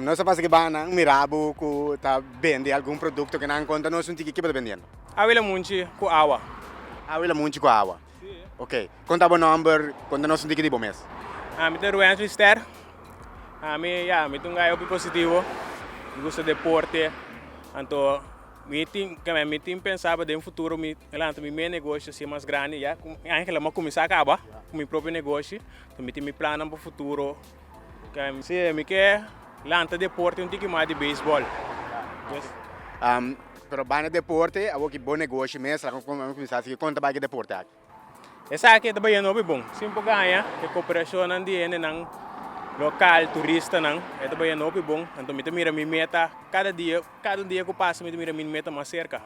Nos a pasa ki banan mira bo ku ta bende algun produkto ke nan konta nos un tiki, ke bo ta bendiendo? Awi la munchi ku awa. Awi la munchi ku awa. Ok. Konta bo nòmber, konta nos un tiki di bo mes. Mi ta Ruensly Ster. Mi ya, mi ta un gay hopi positivo. Mi gusta deporte. Anto mi tin, kilamen mi tin pensaba den futuro mi lanta mi mes negoshi asin mas grandi ya ku mi angel a kuminsá kaba ku mi propio negoshi. Mi tin mi plannan pa futuro. Ken si mi ke lanta deporte un tiki mas di beisbol. Pero banda deporte awor ki bon negoshi mes a kuminsá sigui kon ta bai ki deporte aki. Esaki ta bahiendo hopi bon sin por gaña e koperashonnan di hendenan lokal, turistanan e ta bahiendo hopi bon anto mi ta mira mi meta kada dia, kada un dia ku pasa mi ta mira mi meta mas serka.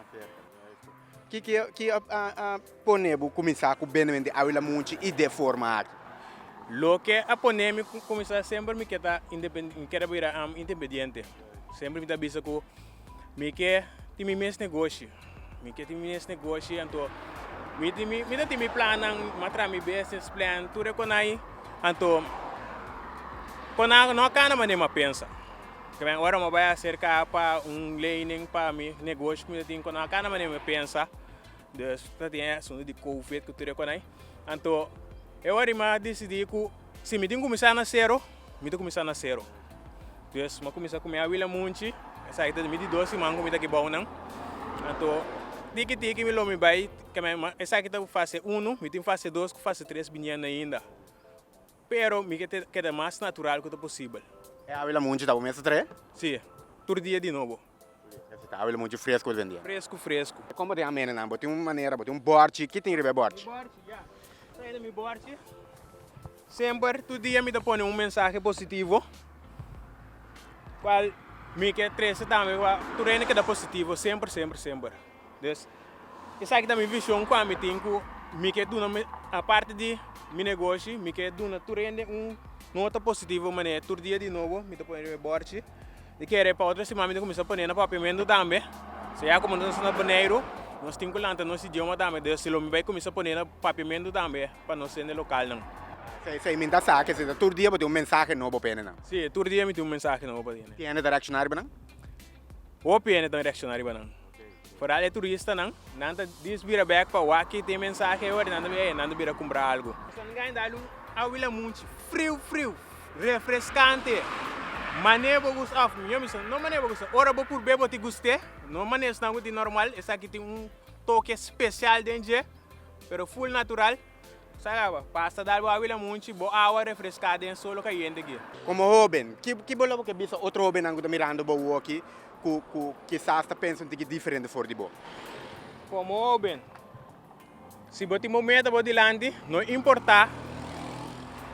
Kiko ki a pone bo kuminsá ku bende bende awi lamunchi i deforma aki? Loke a pone mi kuminsá semper mi ke ta independente, mi ke ta bira independente. Semper mi ta bisa ku mi ke tin mi mes negoshi, mi ke tin mi mes negoshi anto mi tin mi, mi ta tin mi plannan, mi a traha mi business plan tur e konai, anto konai no a kana manera mi a pensa. Kiben ora mo bai acerca pa un ley nen pa mi negoshi mi ta tin cu nan a cana manera mi pensa dus ta tin e asunto di covid cu tur e cona ayi anto e ora ayi mi a decidi cu si mi tin cuminsa na cero mi ta cuminsa na cero dus mi a cuminsa cu mi abuela munchi esaki ta mi di dos siman cu mi ta aki bou nan anto tiki tiki mi lo mi bai kiben esaki ta fase uno mi tin fase dos cu fase tres biniendo ainda. Pero mi ke keda mas natural ku ta posibel. E Avila Munchi ta bo mes ta trae? Si, tur dia di nobo. Ese ta Avila Munchi fresku bo ta bende? Fresku fresku. Kon bo tin amenanan? Bo tin un manera, bo tin un bòrchi? Ki tin riba e bòrchi? Mi bòrchi, ya. Sabi ta mi bòrchi? Semper, tur dia mi ta pone un mensahe positivo, kual mi ke trese tambe, tur hende keda positivo semper semper semper. Des esaki ta mi vision ku ami tin ku mi ke duna mi aparte di mi negoshi mi ke duna tur hende un nota positivo manera tur dia di nobo mi ta pone riba e bòrchi i kere pa otro siman mi ta kuminsá pone na papiamentu tambe so ya komo nos ta na boneiru nos tin ku lanta nos idioma tambe des si lo mi bai kuminsá pone na papiamentu tambe pa nos hende lokalnan. Esei mi ta sa ke esei ta tur dia bo tin un mensahe nobo pa hende nan. Si tur dia mi tin un mensahe nobo pa hende. Hende ta reakshoná riba nan? Hopi hende ta reakshoná riba nan. Foral e turistanan, nan ta dis bira bek pa waki te mensahe ora nan ta bira e, nan ta bira kumpra algu. Nan gana dal un ahuila muchi friu friu, refreskante, mane bo gusta of mijo mi sona no mane bo gusta, ora bo purb'e bo ti gust'e, no mane esnan ku tin normal, esaki tin un toke spesial den dje, pero full natural. Saraba, pasa darbo awila munchi bo awa refreská den solo kayente ki. Komo hóben, ki ki bo lo bo ke bisa otro hóbennan ku ta mirando bo woki ku ku kisas ta pensa un tiki diferente for di bo? Komo hóben, si bo tin bo meta bo dilanti, no importá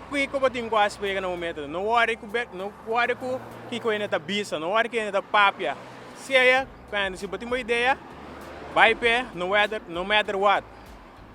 kiko bo tin ku a spreka na bo meta tu, no wòri ku bek, no wòri ku kiko hende ta bisa, no wòri ku hende ta papia. Siña, kanda si bo tin bo idea, bai p'e, no wèter, no mèter wòt.